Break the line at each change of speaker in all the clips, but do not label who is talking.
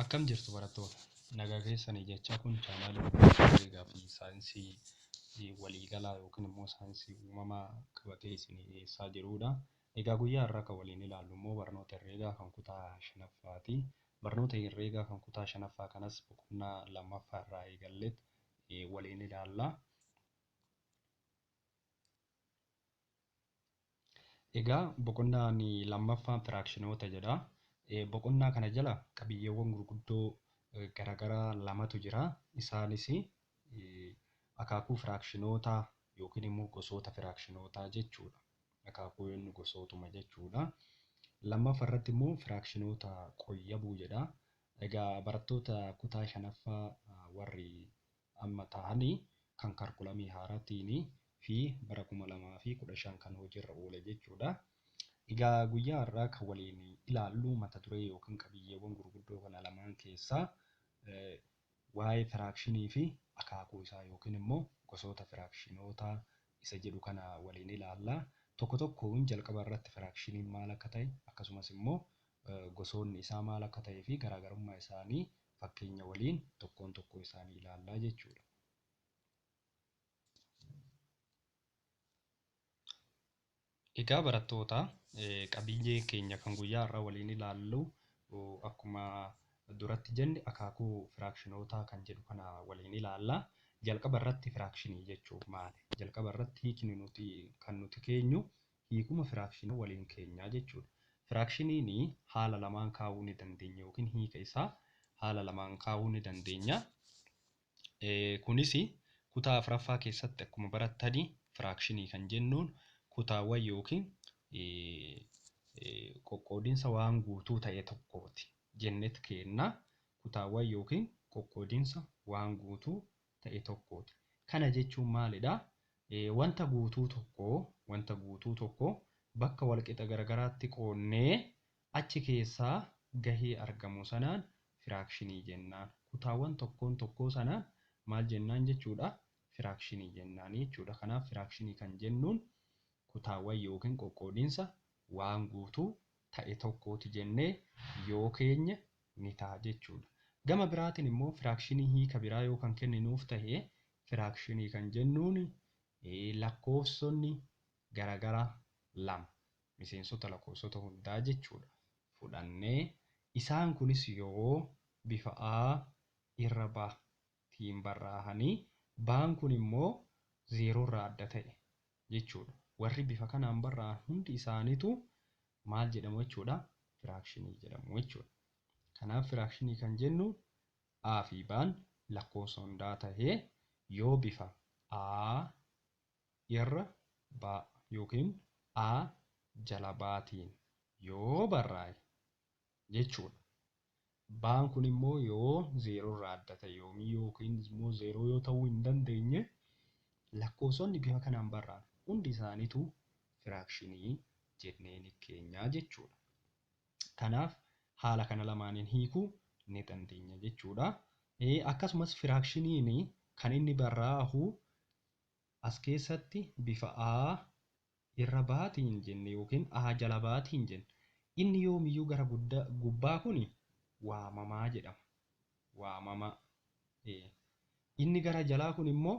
Akkam jirtu barattoota? Nagaa keessanii jechaa kun chaanaalii herreegaa fi saayinsii waliigalaa yookiin immoo saayinsii uumamaa qabatee isinii dhiyeessaa jirudha. Egaa guyyaa har'aa kan waliin ilaallu immoo barnoota herreegaa kan kutaa shanaffaati. Barnoota herreegaa kan kutaa shanaffaa kanas boqonnaa lammaffaa irraa eegalleet waliin ilaalla. Egaa boqonnaan lammaffaan firaakshinoota jedha. Boqonnaa kana jala qabiyyeewwan gurguddoo garagaraa lamatu jira. Isaanis akaakuu firaakshinoota yookiin immoo gosoota firaakshinoota jechuudha. Akaakuu yoonni gosootuma jechuudha. Lammaffa irratti immoo firaakshinoota qoyyabuu jedha. Egaa barattoota kutaa shanaffaa warri amma taa'ani kan karkulamii haaratiini fi bara 2015 kan hojiirra oole jechuudha. Egaa guyyaa har'aa kan waliin ilaallu mata duree yookiin qabiyyeewwan gurguddoo kana lamaan keessaa waa'ee firaakshinii fi akaakuu isaa yookiin immoo gosoota firaakshinoota isa jedhu kana waliin ilaalla. Tokko tokkoon jalqaba irratti firaakshiniin maal akka ta'e akkasumas immoo gosoonni isaa maal akka ta'ee fi garaagarummaa isaanii fakkeenya waliin tokkoon tokkoo isaanii ilaallaa jechuudha. Egaa barattoota qabiyyee keenya kan guyyaa irraa waliin ilaallu akkuma duratti jenne akaakuu firaakshinootaa kan jedhu kana waliin ilaalla. Jalqaba irratti firaakshinii jechuun maali? Jalqaba irratti hiikni nuti kan nuti keenyu hiikuma firaakshina waliin keenya jechuudha. Firaakshiniin haala lamaan kaa'uu ni dandeenya yookiin hiika isaa haala lamaan kaa'uu ni dandeenya. Kunis kutaa afraffaa keessatti akkuma barattan firaakshinii kan jennuun kutaawwan yookiin qoqqoodinsa waan guutuu ta'e tokkooti jennet keenna. Kutaawwan yookiin qoqqoodinsa waan guutuu ta'e tokkooti. Kana jechuun maalidha? Wanta guutuu tokko, wanta guutuu tokko bakka walqixa garagaraatti qoodnee achi keessaa gahee argamu sanaan firaakshinii jennaan. Kutaawwan tokkoon tokkoo sanaan maal jennaan jechuudha? Firaakshinii jennaan jechuudha. Kanaaf firaakshinii kan jennuun kutaawwan yookiin qoqqoodinsa waan guutuu ta'e tokkooti jennee yoo keenye ni ta'a jechuu dha. Gama biraatiin immoo firaakshinii hiika biraa yoo kan kenninuuf tahe firaakshinii kan jennuun lakkoofsonni garagara lama miseensota lakkoofsota hundaa jechuu dha fudhannee isaan kunis yoo bifa a irra ba tiin barraahanii ba'an kun immoo zeeroo irraa adda ta'e jechuu dha. Warri bifa kanaan barraa'an hundi isaanitu maal jedhamu jechuu dha? Firaakshinii jedhamu jechuu dha. Kanaaf firaakshinii kan jennu A fi B'n lakkoofsa hundaa tahee yoo bifa A irra B yookiin A jala B tiin yoo barraa'e jechuudha. Baan kun immoo yoo zeeroo irraa adda ta'e yoomii yookiin immoo zeeroo yoo ta'uu hin dandeenye lakkoofsonni bifa kanaan barraan hundi isaaniitu firaakshinii jennee ni keenya jechuudha. Kanaaf haala kana lamaaniin hiikuu ni dandeenya jechuudha. Akkasumas firaakshiniin kan inni barraa'u as keessatti bifa A, Irra baati hin jenne yookiin aa jala baati hin jenne. Inni yoomiyyuu gara gudda, gubbaa kuni waamamaa jedhama. Waamamaa. Ee. Inni gara jalaa kun immoo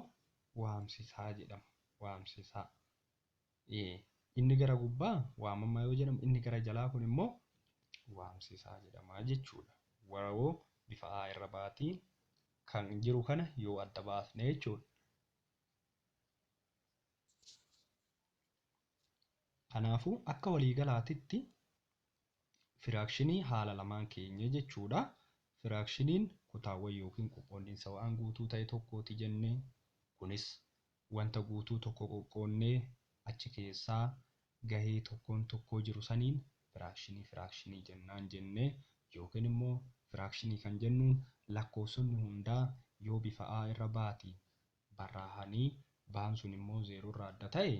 waamsisaa jedhama. Waamsisaa. Ee. Inni gara gubbaa waamamaa yoo jedhamu inni gara jalaa kun immoo waamsisaa jedhama jechuudha. Waroo bifa aa irra baati kan jiru kana yoo adda baasne jechuudha. Kanaafuu akka waliigalaatitti firaakshinii haala lamaan keenye jechuudha. Firaakshiniin kutaawwan yookiin qoqqoodinsa waan guutuu ta'e tokkooti jenne. Kunis wanta guutuu tokko qoqqoodnee achi keessaa gahee tokkoon tokkoo jiru saniin firaakshinii firaakshinii jennaan jenne yookiin immoo firaakshinii kan jennuun lakkoofsonni hundaa yoo bifa A irra baati barraahanii baan sun immoo zeeroo irraa adda ta'e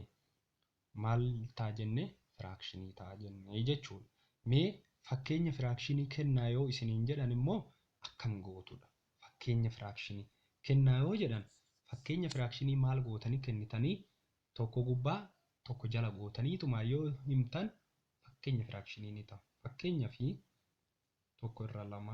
maal ta'a jenne firaakshinii ta'a jenne jechuudha. Mee fakkeenya firaakshinii kennaa yoo isiniin jedhan immoo akkam gootudha? Fakkeenya firaakshinii kennaa yoo jedhan fakkeenya firaakshinii maal gootanii kennitanii tokko gubbaa tokko jala gootaniituma yoo himtan fakkeenya firaakshinii ni ta'a. Fakkeenyaaf tokko irra lama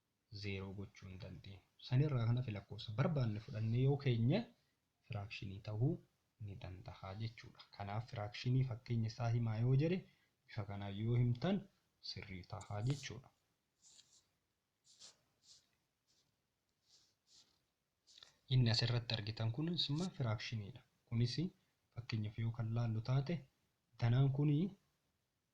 0 gochuu hin dandeenyu. San irraa kan hafe lakkoofsa barbaanne fudhannee yoo keenye firaakshinii tahuu ni dandaha jechuu dha. Kanaaf firaakshinii fakkeenya isaa himaa yoo jedhe bifa kanaan yoo himtan sirrii taha jechuu dha. Inni as irratti argitan kunis immoo firaakshinii dha. Kunis fakkeenyaaf yoo kan laallu taate danaan kun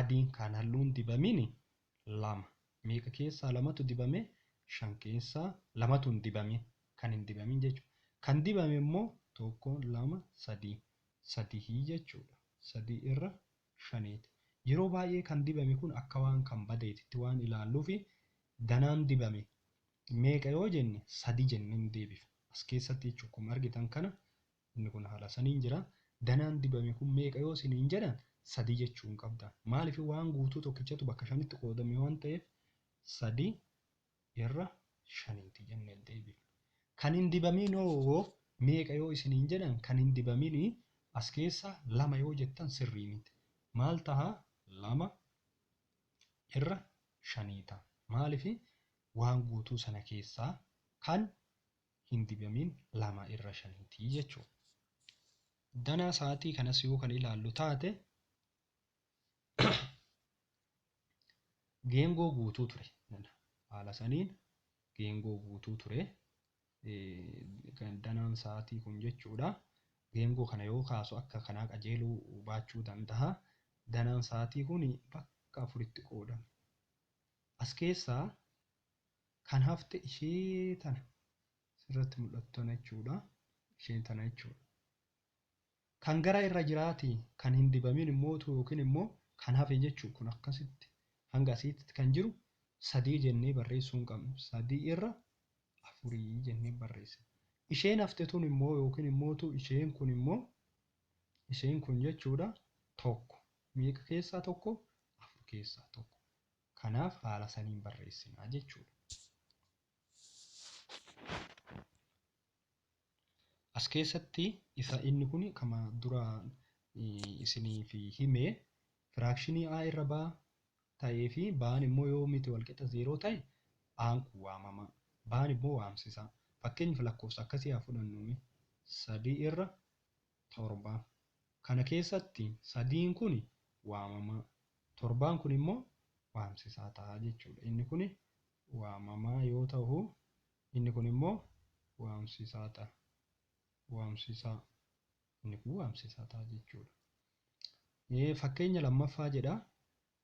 adiin kaan halluun dibamini lama meeqa keessaa lamatu dibame shan keessaa lamatu hin dibamin kan hin dibamin jechuudha kan dibame immoo tokko lama sadii sadihii jechuudha sadii irra shaniiti yeroo baay'ee kan dibame kun akka waan kan badeetitti waan ilaalluufi danaan dibame meeqa yoo jenne sadii jenneen deebifna as keessatti jechuudha akkuma argitan kana Inni kun haala saniin jira. Danaan dibame kun meeqa yoo siniin jedhan sadii jechuu hin qabdan. Maaliif waan guutuu tokkichatu bakka shanitti qoodame waan ta'eef sadii irra shaniiti jennee deebifna. Kan hin dibamiin hoo meeqa yoo isiniin jedhan kan hin dibamini as keessaa lama yoo jettan sirrii miti. Maal taha? Lama irra shanii taha. Maaliif waan guutuu sana keessaa kan hin dibamin lama irra shaniiti jechuu danaa sa'aatii kanas yoo kan ilaallu taate geengoo guutuu ture haala saniin geengoo guutuu ture danaan sa'aatii kun jechuudha geengoo kana yoo kaasu akka kanaa qajeeluu baachuu danda'a danaan sa'aatii kun bakka afuritti qoodame as keessaa Kan hafte ishee tana. Sirratti mul'attu tana jechuudha. Isheen tana jechuudha. Kan gara irra jiraati kan hin dibamin immootu yookiin immoo kan hafe jechuudha. Kun akkasitti hanga asiitti kan jiru sadii jennee barreessuu hin qabnu. Sadii irra afurii jennee barreessina. Isheen hafte tun immoo yookiin immootu isheen kun immoo isheen kun jechuudha tokko. Meeqa keessaa tokko? Afur keessaa tokko. Kanaaf haala saniin barreessina jechuudha. As keessatti isa inni kun kama duraan isiniif hime firaakshinii a irra baa ta'ee fi baan immoo yoo miti walqixa zeeroo ta'e aan kun waamama baan immoo waamsisa fakkeenyaaf lakkoofsa akkasii haa fudhannu sadii irra 7. Kana keessatti sadiin kuni waamamaa, torbaan kuni immoo waamsisaa ta'a jechuudha. Inni kuni waamamaa yoo tahu, inni kuni immoo waamsisaa ta'a. Waamsisaa. Inni kuni waamsisaa ta'a jechuudha. Fakkeenya lammaffaa jedha.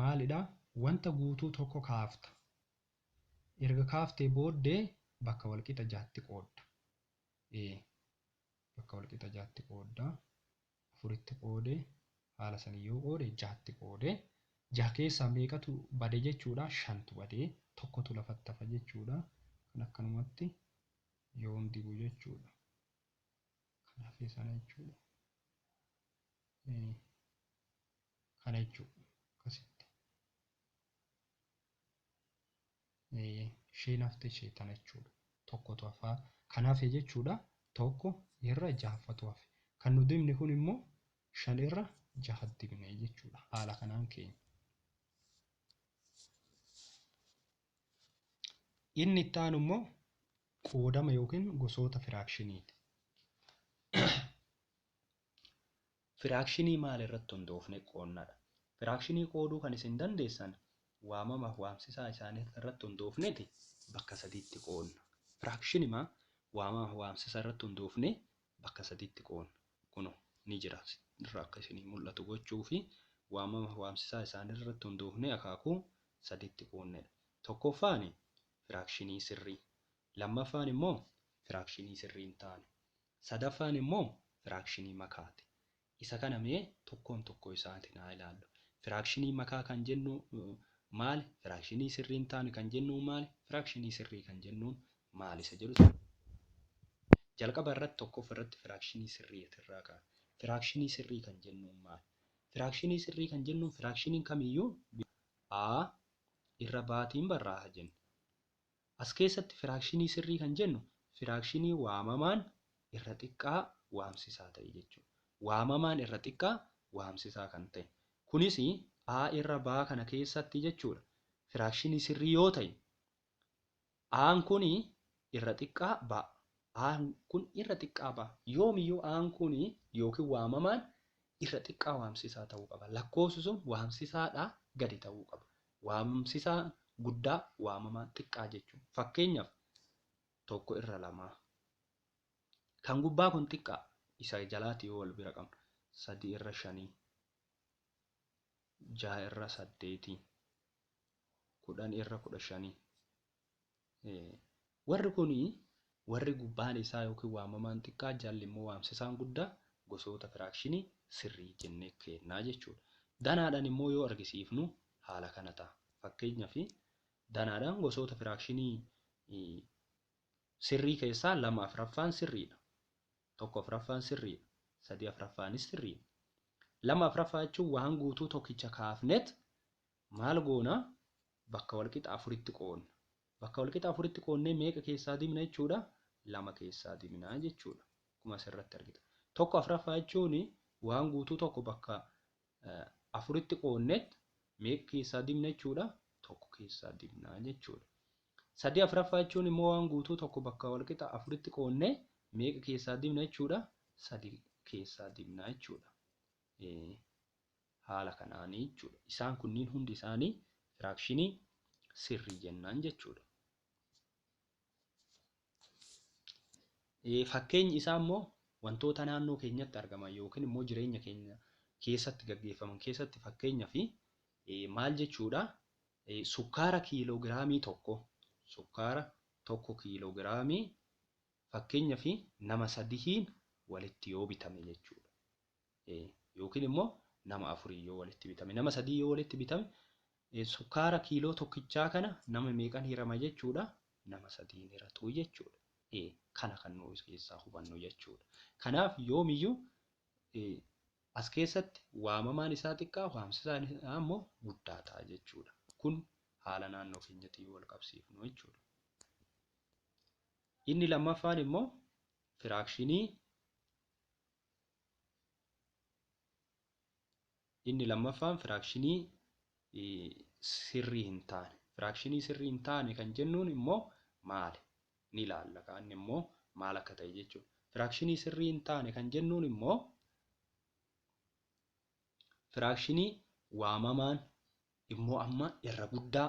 maalidha? Wanta guutuu tokko kaafta. Erga kaaftee booddee bakka walqixa ja'atti qoodda. e. Bakka walqixa ja'atti qoodda. Afuritti qoode, haala saniin yoo qoode ja'atti qoode. Ja'a keessaa meeqatu bade jechuudha? Shantu bade. Tokkotu lafatti hafa jechuudha. Kan akkanumatti yoon dibu jechuudha. Kan hafe sana jechuudha. e. kana jechuu akkasitti isheen hafte ishee tana jechuudha tokkotu hafaa kan hafe jechuudha tokko irra jahaffatu hafe kan nu dibne kun immoo shan irra jaha dibne jechuudha haala kanaan keenya. Inni itti aanu immoo qoodama yookiin gosoota firaakshiniiti. Firaakshinii maal irratti hundoofne qoodna dha. Firaakshinii qooduu kan isin dandeessan waamama fi waamsisaa isaanii irratti hundoofneeti bakka sadiitti qoodna. Firaakshinimaa waamama fi waamsisa irratti hundoofnee bakka sadiitti qoodna. Kunoo ni jira irra akka isinii mul'atu gochuu fi waamama fi waamsisaa isaanii irratti hundoofnee akaakuu sadiitti qoodne dha. Tokkoffaan firaakshinii sirrii, lammaffaan immoo firaakshinii sirrii hin taane. Sadaffaan immoo firaakshinii makaati. Isa kana mee tokkoon tokkoo isaatiin haa ilaallu. Firaakshinii makaa kan jennu maali? Firaakshinii sirrii hin taane kan jennu maali? Firaakshinii sirrii kan jennuun maali? Isa jedhu jalqaba irratti tokkoffaa irratti firaakshinii sirrii irraa ka'a. Firaakshinii sirrii kan jennuun maali? Firaakshinii sirrii kan jennuun firaakshiniin kamiyyuu a irra baatiin barraa'a jenna. As keessatti firaakshinii sirrii kan jennu firaakshinii waamamaan irra xiqqaa waamsisaa ta'e jechuudha. Waamamaan irra xiqqaa waamsisaa kan ta'e. Kunis A irra B kana keessatti jechuudha. Firaakshinii sirrii yoo ta'e A'n kun irra xiqqaa B. A'n kun irra xiqqaa B. Yoomiyyuu A'n kun yookiin waamamaan irra xiqqaa waamsisaa ta'uu qaba. Lakkoofsi sun waamsisaadhaa gadi ta'uu qaba. Waamamsisaa guddaa, waamamaa xiqqaa jechuu. Fakkeenyaf, tokko irra lamaa. Kan gubbaa kun xiqqaa, isa jalaati yoo wal bira qabnu. Sadii irra shanii. Jaha irra saddeetii. Kudhanii irra kudha shanii. Warri kun warri gubbaan isaa yookiin waamamaan xiqqaa jalli immoo waamsisaan guddaa gosoota firaakshinii sirrii jennee keenna jechuudha. Danaadhaan immoo yoo argisiifnu haala kana ta'a. Fakkeenyaaf danaadhaan gosoota firaakshinii sirrii keessaa lama afraffaan sirriidha. Tokko afraffaan sirriidha. Sadii afraffaanis sirriidha. Lama afraffaa jechuun waan guutuu tokkicha kaafnet Maal goona? Bakka walqixa afuritti qoodna. Bakka walqixa afuritti qoodnee meeqa keessaa dimna jechuudha? Lama keessaa dimna jechuudha. Akkuma asirratti argitan. Tokko afraffaa jechuun waan guutuu tokko bakka afuritti qoodneet meeqa keessaa dimna jechuudha? Tokko keessaa dimna jechuudha. Sadii afraffaa jechuun immoo waan guutuu tokko bakka walqixa afuritti qoodnee meeqa keessaa dimna jechuudha? Sadii keessaa dimna jechuudha. Haala kanaan jechuudha. Isaan kunniin hundi isaanii firaakshinii sirrii jennaan jechuudha. Fakkeenyi isaa immoo wantoota naannoo keenyatti argaman yookiin immoo jireenya keenya keessatti gaggeeffaman keessatti fakkeenya fi maal jechuudha sukkaara kiiloogiraamii tokko sukkaara tokko kiiloogiraamii fakkeenya fi nama sadihiin walitti yoo bitame jechuudha. yookiin immoo nama afurii yoo walitti bitame nama sadii yoo walitti bitame sukkaara kiiloo tokkichaa kana nama meeqan hirama jechuudha nama sadiin hiratuu jechuudha. Kana kan nuyi keessaa hubannu jechuudha. Kanaaf yoomiyyuu as keessatti waamamaan isaa xiqqaa waamsisaan isaa immoo guddaa ta'a jechuudha. Kun haala naannoo keenyatti yoo wal qabsiifnu jechuudha. Inni lammaffaan immoo firaakshinii Inni lammaffaan firaakshinii sirrii hin taane. Firaakshinii sirrii hin taane kan jennuun immoo maali? Ni ilaalla kaanni immoo maal akka ta'e jechuudha. Firaakshinii sirrii hin taane kan jennuun immoo firaakshinii waamamaan immoo amma irra guddaa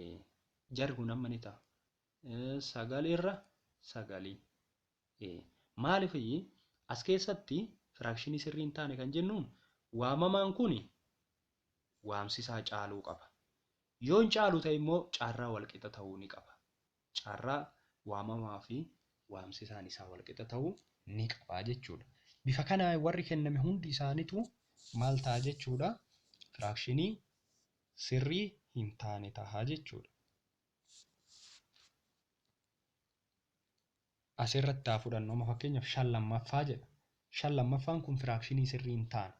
ee jarri kun amma ni ta'a Eh, sagal irra sagalii ee maaliif iyyii as keessatti firaakshinii sirrii hin taane kan jennuun waamamaan kun waamsisaa caaluu qaba yoon caalu ta'e immoo carraa walqixa ta'uu ni qaba Carraa waamamaa fi waamsisaan isaa walqixa ta'uu ni qaba jechuu dha. Bifa kanaan warri kenname hundi isaanituu maal ta'a jechuu dha? Firaakshinii sirrii hin taane ta'a jechuu dha. As irratti haa fudhannu amma fakkeenyaaf shan lammaffaa jedha. Shan lammaffaan kun firaakshinii sirrii hin taane.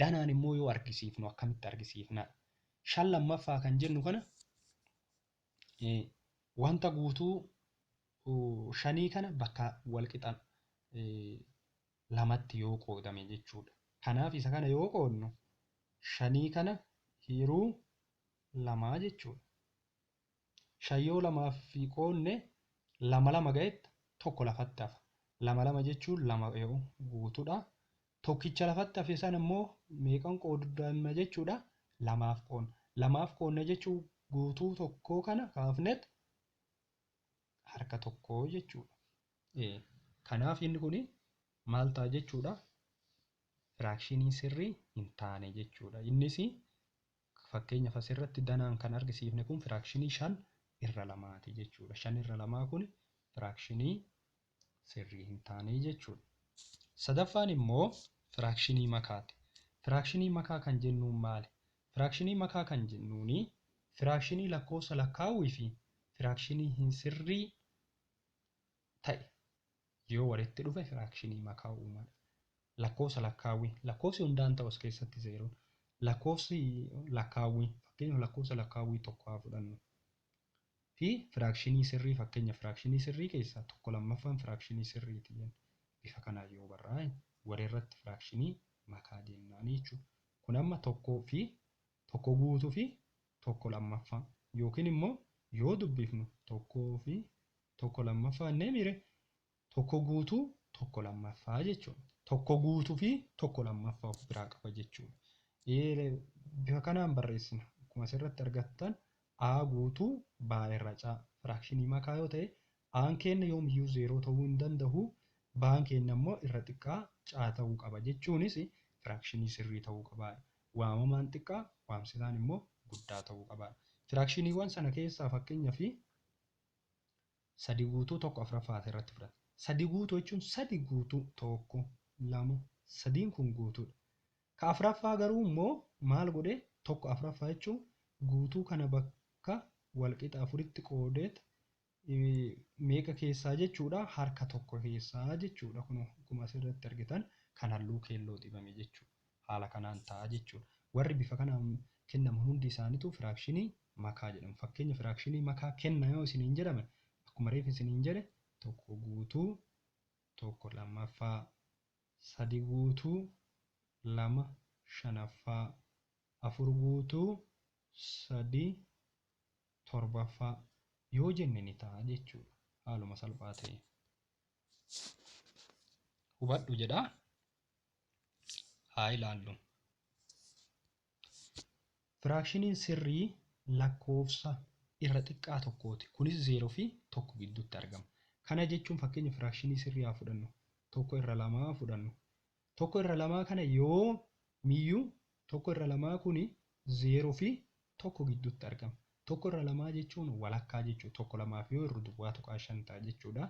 Danaan immoo yoo argisiifnu akkamitti argisiifna? Shan lammaffaa kan jennu kana Wanta guutuu shanii kana bakka walqixa lamatti yoo qoodame jechuudha. Kanaaf isa kana yoo qoodnu shanii kana hiiruu lamaa jechuudha. Shan yoo lamaaf qoodne lama lama ga'etta tokko lafatti hafa. Lama lama jechuun lama yoo guutudha. Tokkicha lafatti hafe sana immoo meeqan qoodna jechuudha? Lamaaf qoodna. Lamaaf qoodna jechuun guutuu tokkoo kana kaafnet harka tokkoo jechuudha. Ee, Kanaaf inni kun maal ta'a jechuudha? Firaakshinii sirrii hin taane jechuudha. Innis Akka fakkeenyaf as irratti danaan kan argisiifne kun firaakshinii 5 irra 2 ti jechuu dha. 5 irra 2 kun firaakshinii sirrii hin taane jechuu dha. Sadaffaan immoo firaakshinii makaa ti. Firaakshinii makaa kan jennuun maali? Firaakshinii makaa kan jennuun firaakshinii lakkoofsa lakkaawwii fi firaakshinii hin sirrii ta'e Yoo walitti dhufe firaakshinii makaa uuma. Lakkoofsa lakkaawwi. Lakkoofsi hundaan ta'us keessatti zeeroon. Lakkoofsi lakkaawwi. Fakkeenyaaf lakkoofsa lakkaawwii tokko haa fudhannu. Fi firaakshinii sirrii fakkeenya firaakshinii sirrii keessaa tokko lammaffaan firaakshinii sirriiti jenna. Bifa kanaan yoo barraa'e walirratti firaakshinii makaa jennaani jechuudha. Kun amma tokkoo fi tokko guutuu fi tokko lammaffaa yookiin immoo yoo dubbifnu tokkoo fi tokko lammaffaa innee miire tokko guutuu tokko lammaffaa jechuudha. Tokko guutuu fi tokko lammaffaa of biraa qaba jechuudha. Ee, Bifa kanaan barreessina. Akkuma asirratti argattan A guutuu B irra C firaakshinii makaa yoo ta'e A'n keenya yoomiyyuu zeeroo ta'uu hin danda'u. B'n keenya immoo irra xiqqaa C ta'uu qaba jechuunis firaakshinii sirrii ta'uu qaba. Waamamaan xiqqaa waamsitaan immoo guddaa ta'uu qaba. Firaakshiniiwwan sana keessaa fakkeenyaaf 3 guutuu 1 afraffaa as irratti fudhata. 3 guutuu jechuun 3 guutuu 1 2 sadiin kun guutuudha. Ka afraffaa garuu immoo maal godhe 1 afraffaa jechuun guutuu kana bakka walqixa afuritti qoodeet meeqa keessaa jechuudha harka tokko keessaa jechuudha kun akkuma asirratti argitan kan halluu keelloo dibame jechuudha. haala kanaan ta'a jechuudha. Warri bifa kanaan kennamu hundi isaanituu firaakshinii makaa jedhamu. Fakkeenya firaakshinii makaa kenna yoo isiniin jedhame akkuma reef isiniin jedhe tokko guutuu tokko lammaffaa, sadi guutuu lama shanaffaa, afur guutuu sadi torbaffaa yoo jenne ni ta'a jechuudha. Haaluma salphaa ta'een. Hubadhu jedha. haa ilaallu. Firaakshiniin sirrii lakkoofsa irra xiqqaa tokkooti. Kunis 0 fi 1 gidduutti argama. Kana jechuun fakkeenya firaakshinii sirrii haa fudhannu. Tokko irra lamaa fudhannu. Tokko irra lamaa kana yoo miyyuu tokko irra lamaa kuni 0 fi 1 gidduutti argama. Tokko irra lamaa jechuun walakkaa jechuudha. Tokko lamaaf yoo irru duwwaa tuqaa shan ta'a jechuudha.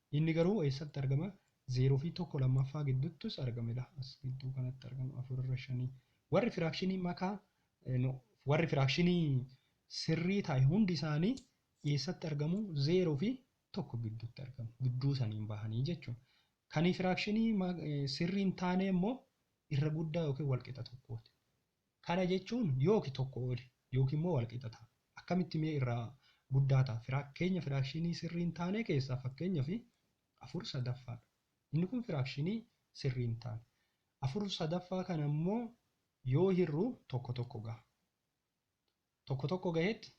Inni garuu eessatti argama? 0 fi 1 lammaffaa gidduttus argama ila as gidduu kanatti argama 4 irra 5 warri firaakshinii makaa no warri firaakshinii sirrii taa'e hundi isaanii eessatti argamu 0 fi 1 gidduutti argamu gidduu saniin bahanii jechuun kan firaakshinii sirrii hin taane immoo irra guddaa yookiin walqixa tokkooti Kana jechuun yooki tokko oli yooki immoo walqixa ta'a. Akkamitti mee irraa guddaa ta'a? Firaakkeenya firaakshinii sirrii hin taanee keessaa fakkeenyaf 4 sadaffaa dha. Inni kun firaakshinii sirrii hin taane. 4 sadaffaa kana immoo yoo hirru tokko tokko gaha. Tokko tokko gahetti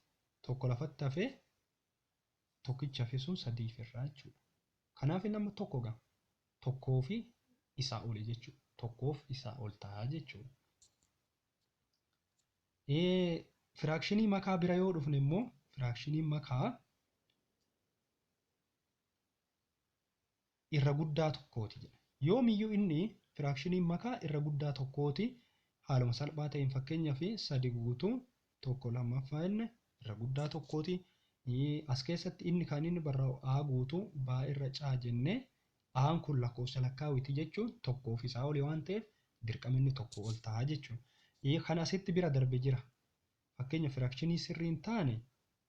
tokko lafatti hafee tokkicha fi sun sadiif irraa jechuudha. Kanaaf inni amma tokko gama tokkoo fi isaa oli jechuudha. Tokkoof isaa ol ta'a jechuudha. Firaakshinii makaa bira yoo dhufne immoo firaakshiniin makaa irra guddaa tokkooti jedha. Yoomiyyuu inni firaakshiniin makaa irra guddaa tokkooti haaluma salphaa ta'een fakkeenyaaf 3 guutuu 1 lammaffaa inni irra guddaa tokkooti. As keessatti inni kan inni barraa'u a guutuu b irra c jennee a'n kun lakkoofsa lakkaawiti jechuun tokkoo fi isaa oli waan ta'eef dirqama inni tokko ol ta'a jechuudha. Kan asitti bira darbe jira. Fakkeenya firaakshinii sirrii hin taane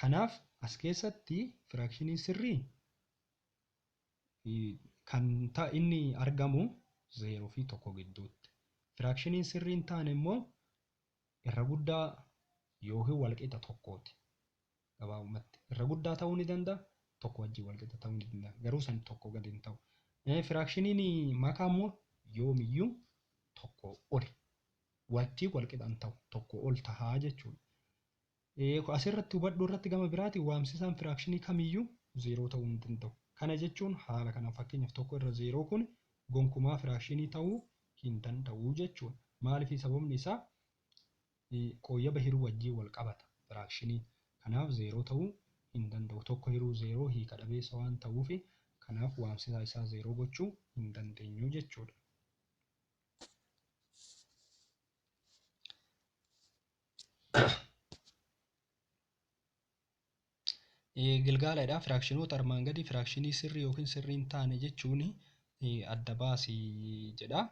Kanaaf, as keessatti firaakshiniin sirriin kan ta inni argamu 0 fi 1 gidduutti. Firaakshiniin sirriin taane immoo irra guddaa yookiin walqixa tokkooti. Gabaabumatti irra guddaa ta'uu ni danda'a, tokko wajjin walqixa ta'uu ni danda'a. Garuu san tokko gadi hin ta'u. Firaakshiniin makaa immoo yoomiyyuu tokko oli wajjin walqixa hin ta'u, tokko ol tahaa jechuudha. Eeko asirratti hubadhu irratti gama biraatiin waamsisaan firaakshinii kamiyyuu zeeroo ta'uu hin danda'u. Kana jechuun haala kanaan fakkeenyaaf tokko irra zeeroo kun gonkumaa firaakshinii ta'uu hin danda'u jechuudha. Maaliif sababni isaa qooyyaba hiruu wajjin wal qabata firaakshiniin. Kanaaf zeeroo ta'uu hin danda'u. Tokko hiruu zeeroo hiika dhabeessa waan ta'uuf kanaaf waamsisaa isaa zeeroo gochuu hin dandeenyu jechuudha. Gilgaaladha. Firaakshinoota armaan gadii firaakshinii sirrii yookiin sirrii hin taane jechuun adda baasi jedha.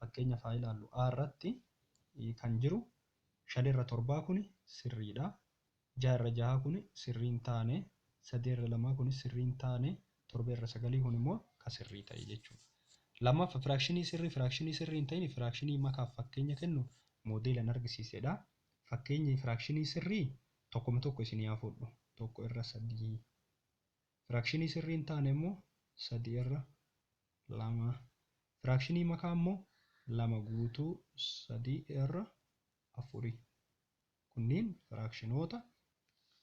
Fakkeenya faa ilaallu. A irratti kan jiru shan irra torbaa kun sirriidha. jaha irra jaha kun sirrii hin taane, sadee irra lamaa kunis sirrii hin taane, torbee irra sagalii kun immoo ka sirrii ta'e jechuu dha. Lammaffa firaakshinii sirrii firaakshinii sirrii hin ta'in firaakshinii makaaf fakkeenya kennu moodeelan argisiise dha. Fakkeenyi firaakshinii sirrii tokkoma tokko isinii haa fudhu. tokko irra sadii. Firaakshinii sirrii hin taane immoo sadii irra lama. Firaakshinii makaa immoo lama guutuu sadii irra afuri. Kunniin firaakshinoota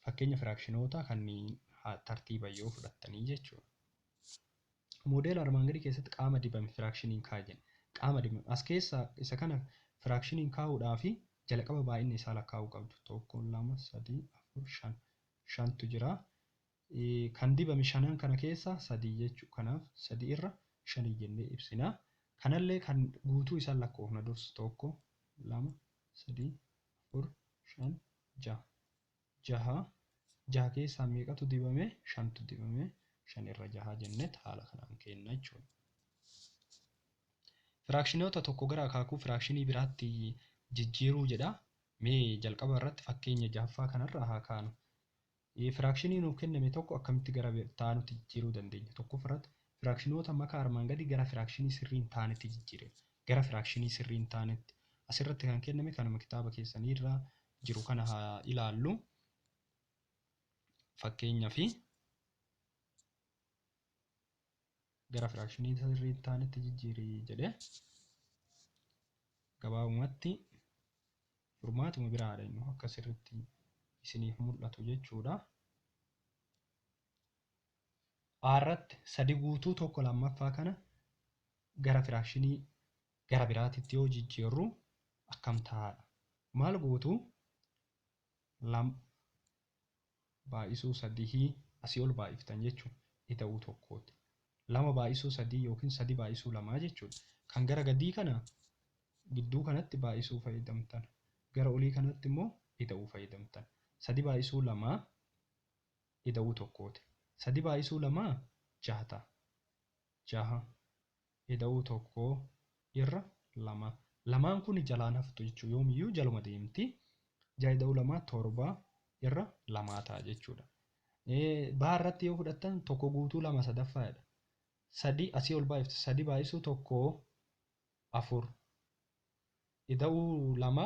fakkeenya firaakshinoota kanneen tartiiban yoo fudhattanii jechuudha. Moodeela armaan gadii keessatti qaama dibame firaakshiniin kaa'i jenna. Qaama dibame as keessaa isa kana firaakshiniin kaa'uudhaaf jalqaba baay'ina isaa lakkaa'uu qabdu. Tokko, lama, sadii, afur, shan. Shantu jira. Kan dibame shanan kana keessaa sadii jechu. Kanaaf sadii irra shanii jennee ibsina. Kanallee kan guutuu isaa lakkoofna dursa tokko, lama, sadii, afur, shan, jaha. Jaha jaha keessaa meeqatu dibame? Shantu dibame. Shan irra jaha jennet haala kanaan keenna jechuudha. Firaakshinoota tokko gara akaakuu firaakshinii biraatti jijjiiruu jedha. Mee jalqaba irratti fakkeenya jahaffaa kanarraa haa kaanu. Firaakshinii nuuf kenname tokko akkamitti gara itti aanutti jijjiiruu dandeenya? Tokkoffaa irratti firaakshinoota makaa armaan gadii gara firaakshinii sirrii hin taanetti jijjiirina. Gara firaakshinii sirrii hin taanetti. Asirratti kan kenname kanuma kitaaba keessanii irra jiru kana haa ilaallu. Fakkeenyaaf gara firaakshinii isa sirrii hin taanetti jijjiiri jedhe. Gabaabumatti furmaatuma biraadha inni akka sirriitti isiniif mul'atu jechuudha. A irratti sadi guutuu tokko lammaffaa kana gara firaakshinii gara biraatitti yoo jijjiirru akkam ta'aadha. Maal gootu? baay'isuu sadihii asii ol baay'iftan jechuun ida'uu tokkooti. Lama baay'isuu sadii yookiin sadi baay'isuu lamaa jechuudha. Kan gara gadii kana gidduu kanatti baay'isuu fayyadamtan. Gara olii kanatti immoo ida'uu fayyadamtan. Sadi baay'isuu lamaa ida'uu tokkooti. Sadi baay'isuu lamaa jaha ta'a. Jaha ida'uu tokko irra lama. Lamaan kun jalaan haftu jechuudha. Yoomiyyuu jaluma deemti. Ja'a ida'uu lamaa torba irra lamaa ta'a jechuudha. Baa irratti yoo fudhattan tokko guutuu lama sadaffaadha. Sadii asii ol baay'iftu sadii baay'isuu tokko afur. Ida'uu lama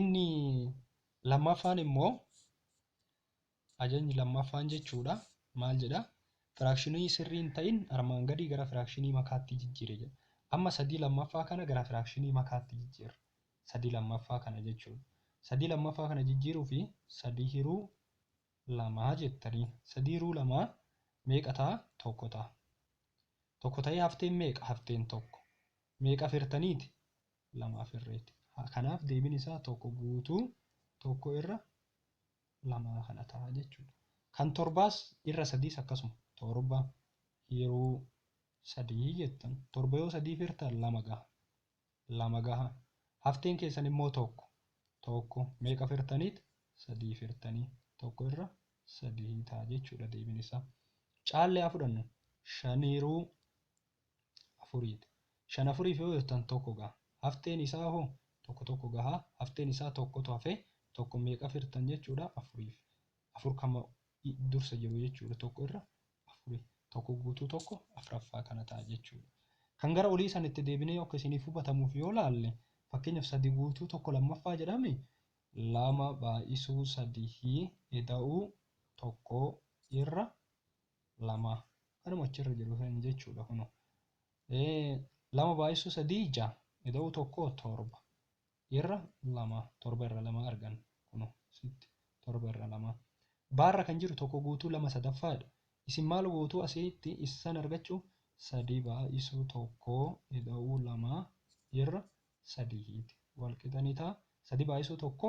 Inni lammaffaan immoo ajajni lammaffaan jechuudha maal jedha firaakshinii sirrii hin ta'in armaan gadii gara firaakshinii makaatti jijjiire jedha. Amma sadii lammaffaa kana gara firaakshinii makaatti jijjiirra. Sadii lammaffaa kana jechuudha. Sadii lammaffaa kana jijjiiruu fi sadii hiruu lamaa jettanii sadii hiruu lamaa meeqa ta'a tokko ta'a. Tokko ta'ee hafteen meeqa hafteen tokko. Meeqa afeertaniiti? Lama afeerreeti. Kanaaf deebiin isaa tokko guutuu tokko irra lamaa kana ta'a jechuudha. Kan torbaas irra sadiis akkasuma torba hiruu sadii jettan. Torba yoo sadii firtan lama gaha. Lama gaha. Hafteen keessan immoo tokko. Tokko meeqa firtaniit? Sadii firtanii. Tokko irra sadii ta'a jechuudha deebiin isaa. Caallee haa fudhannu. Shan hiruu afuriidha. Shan afuriif yoo hirtan tokko gaha. Hafteen isaa hoo? Tokko tokko gaha. Hafteen isaa tokkotu hafe. Tokko meeqaf hirtan jechuudha? Afuriif. Afur kan dursa jiru jechuudha tokko irra afuri. Tokko guutuu tokko afraffaa kana ta'a jechuudha. Kan gara olii san itti deebinee akka isiniif hubatamuuf yoo laalle fakkeenyaaf sadi guutuu tokko lammaffaa jedhame lama baay'isuu sadihii eda'uu tokkoo irra lama kanuma achirra jiru san jechuudha kuno lama baay'isuu sadii ija ida'uu tokko torba irra lama torba irra lama argan kuno sitti torba irra lama baarra kan jiru tokko guutuu lama sadaffaadha isin maal gootuu asitti issan argachuu sadii baay'isuu tokko ida'uu lama irra sadiiti walqixanitaa sadii baay'isuu tokko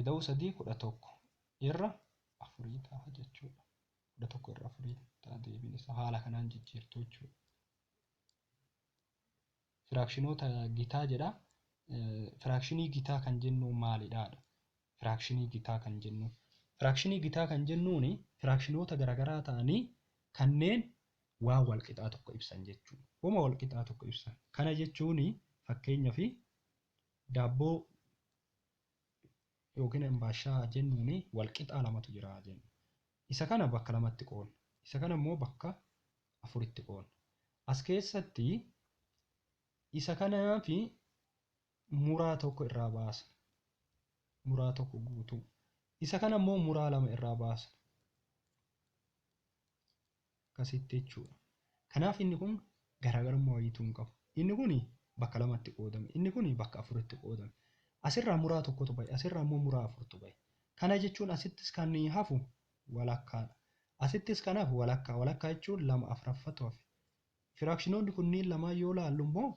Ida'uu 3 11 irra 4 ta'a jechuudha. 11 irra 4 ta'a deebiin isaa haala kanaan jijjiirtu jechuudha. Firaakshinoota gitaa jedha. Firaakshinii gitaa kan jennu maalidhaadha? Firaakshinii gitaa kan jennu. Firaakshinii gitaa kan jennuun firaakshinoota garaagaraa ta'anii kanneen waan walqixaa tokko ibsan jechuudha. Wama walqixaa tokko ibsan. Kana jechuun fakkeenyaaf daabboo yookiin ambaashaa jennuun walqixaa lamatu jira jenna. Isa kana bakka lamatti qoodna. Isa kana immoo bakka afuritti qoodna. As keessatti isa kanaa fi muraa tokko irraa baasna. Muraa tokko guutuu. Isa kana immoo muraa lama irraa baasna. Akkasitti jechuudha. Kanaaf inni kun garaagarummaa wayiitu hin qabu. Inni kun bakka lamatti qoodame. Inni kun bakka afuritti qoodame. Asirraa muraa tokkotu bahe. Asirraa immoo muraa afurtu bahe. Kana jechuun asittis kan hafu walakkaadha. Asittis kan hafu walakkaa. Walakkaa jechuun lama afraffatu hafe. Firaakshinoonni kunniin lamaan yoo laallu immoo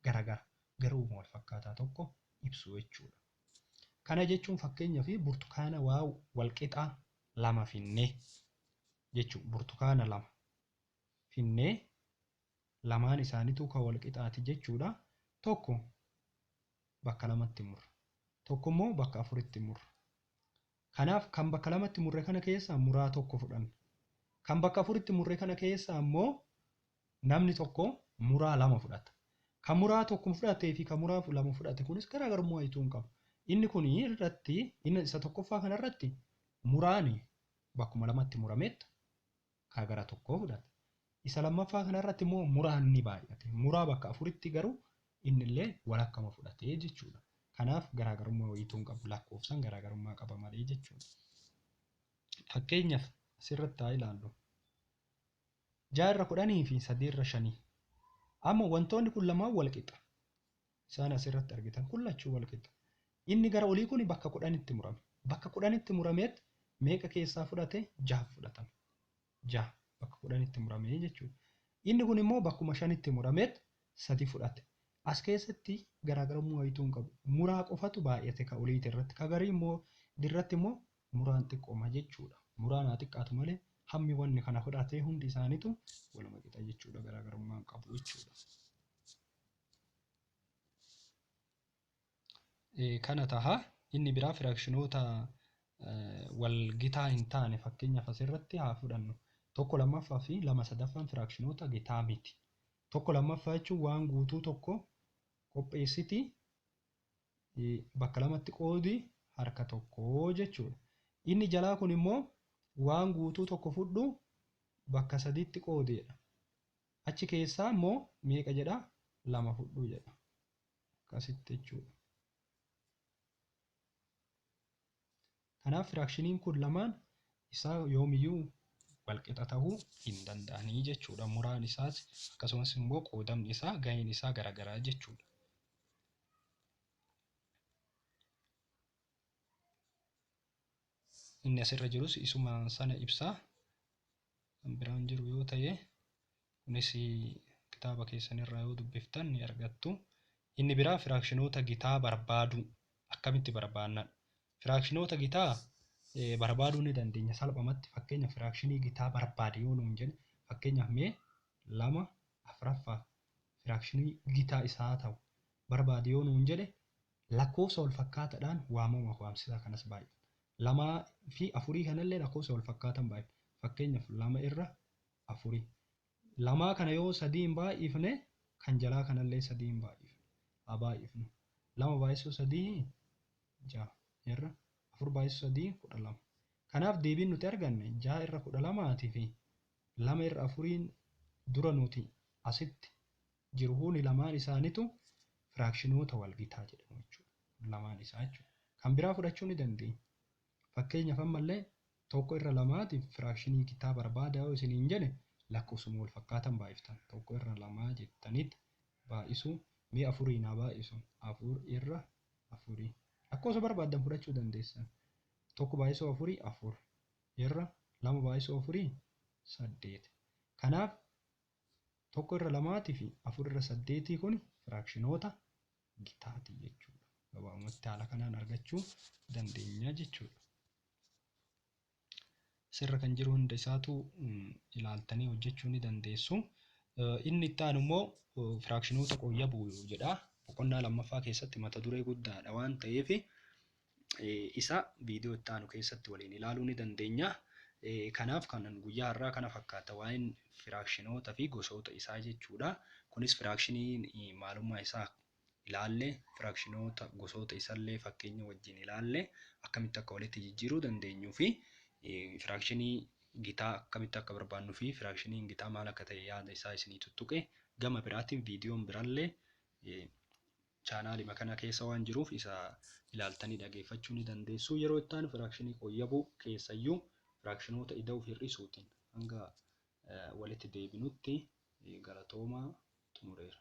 garagara. Garuuma wal fakkaataa tokko ibsu jechuudha. Kana jechuun fakkeenyaaf burtukaana waa walqixaa lama finnee. jechu burtukaana lama finnee lamaan isaanituu ka wal qixaati jechuudha tokko bakka lamatti murra tokko immoo bakka afuritti murra kanaaf kan bakka lamatti murre kana keessaa muraa tokko fudhanna kan bakka afuritti murre kana keessaa immoo namni tokko muraa lama fudhata kan muraa tokko fudhatee fi kan muraa lama fudhate kunis garaagarummaa ituu hin qabu inni kun irratti inni isa tokkoffaa kana irratti muraani bakkuma lamatti murameettu kaa gara tokkoo fudhate. Isa lammaffaa kanarratti immoo muraan ni baay'ate. Muraa bakka afuritti garuu innillee walakkama fudhate jechuudha. Kanaaf garaagarummaa wayiituu hin qabu. Lakkoofsan garaagarummaa qaba malee jechuudha. Fakkeenyaaf asirratti haa ilaallu. Ja'a irra kudhanii fi sadii irra shanii. Amma wantoonni kun lamaan wal qixa. Isaan as irratti argitan kun lachuu wal qixa. Inni gara olii kun bakka kudhanitti murame. Bakka kudhanitti murameet meeqa keessaa fudhate? Jaha fudhatame. Jaha bakka kudhanitti muramee jechuudha. Inni kun immoo bakkuma shanitti murameet sadi fudhate. As keessatti garaagarummaa wayituu hin qabu. Muraa qofatu baay'ate ka oliiti irratti. Ka garii immoo dirratti immoo muraan xiqqooma jechuudha. Muraan haa xiqqaatu malee hammi wanni kana fudhatee hundi isaaniitu waluma qixa jechuudha garaagarummaa hin qabu jechuudha. kana taha. Inni biraa firaakshinoota wal gitaa hin taane fakkeenyaaf asirratti haa fudhannu. Tokko lammaffaa fi lama sadaffaan firaakshinoota gitaa miti. Tokko lammaffaa jechuun waan guutuu tokko qopheessiti bakka lamatti qoodi harka tokko jechuudha. Inni jalaa kun immoo waan guutuu tokko fudhu bakka sadiitti qoodeedha. Achi keessaa immoo meeqa jedha? Lama fudhu jedha. Akkasitti jechuudha. Kanaaf firaakshiniin kun lamaan isaa yoomiyyuu walqixa ta'uu hin danda'anii jechuudha. Muraan isaas akkasumas immoo qoodamni isaa gaheen isaa garaagaraa jechuudha. Inni asirra jirus isuma sana ibsaa. kan biraan jiru yoo ta'e kunis kitaaba keessan irraa yoo dubbiftan ni argattu. Inni biraa firaakshinoota gitaa barbaaduu akkamitti barbaannadha. Firaakshinoota gitaa barbaaduu ni dandeenya salphamatti fakkeenya firaakshinii gitaa barbaade yoo nuun jedhe fakkeenyaaf mee lama afraffaa firaakshinii gitaa isaa ta'u barbaade yoo nuun jedhe lakkoofsa wal fakkaataadhaan waamama waamsisaa kanas baay'ee. Lamaa fi afurii kanallee lakkoofsa wal fakkaatan baay'ifna. Fakkeenyaaf lama irra afuri. Lamaa kana yoo sadiin baay'ifne kan jalaa kanallee sadiin baay'ifna. Haa baay'ifnu. Lama baay'isuu sadii ja'a irra afur baay'isuu sadii kudha lama. Kanaaf deebiin nuti arganne ja'a irra kudha lamaatii fi lama irra afuriin dura nuti asitti jiruhuni lamaan isaanitu firaakshinoota walgitaa jedhamu jechuudha. Lamaan isaa jechuudha. Kan biraa fudhachuu ni dandeenya. Fakkeenyaaf ammallee tokko irra lamaatiif firaakshinii gitaa barbaadaa yoo isiniin jedhe lakkoofsuma wal fakkaatan baay'iftan. Tokko irra lamaa jettaniit baay'isuu mee afurii naa baay'isu. Afur irra afurii. Lakkoofsa barbaaddan fudhachuu dandeessan. Tokko baay'isuu afurii afur. Irra lama baay'isuu afurii saddeet. Kanaaf 1 irra 2 ti fi 4 irra 8 kun firaakshinoota gitaa ti jechuu dha. Gabaabumatti haala kanaan argachuu dandeenya jechuu dha. Asirra kan jiru hunda isaatu ilaaltanii hojjechuu ni dandeessu. Inni itti aanu immoo firaakshinoota qoyyabuu jedha. Boqonnaa lammaffaa keessatti mata duree guddaadha waan ta'eef isaa viidiyoo itti aanu keessatti waliin ilaaluu ni dandeenya. Kanaaf kan guyyaa har'aa kana fakkaata waa'een firaakshinoota fi gosoota isaa jechuudha. Kunis firaakshinii maalummaa isaa ilaalle, firaakshinoota gosoota isallee fakkeenya wajjin ilaalle, akkamitti akka walitti jijjiiruu dandeenyuu fi firaakshinii gitaa akkamitti akka barbaannuu fi firaakshiniin gitaa maal akka ta'e yaada isaa isinii tuttuqe. Gama biraatiin viidiyoon birallee Chaanaalima kana keessa waan jiruuf isa ilaaltanii dhageeffachuu ni dandeessu. Yeroo itti aanu firaakshinii qoyyabuu keessayyuu firaakshinoota ida'uuf hir'isuutiin hanga walitti deebinutti galatoomaa xumureera.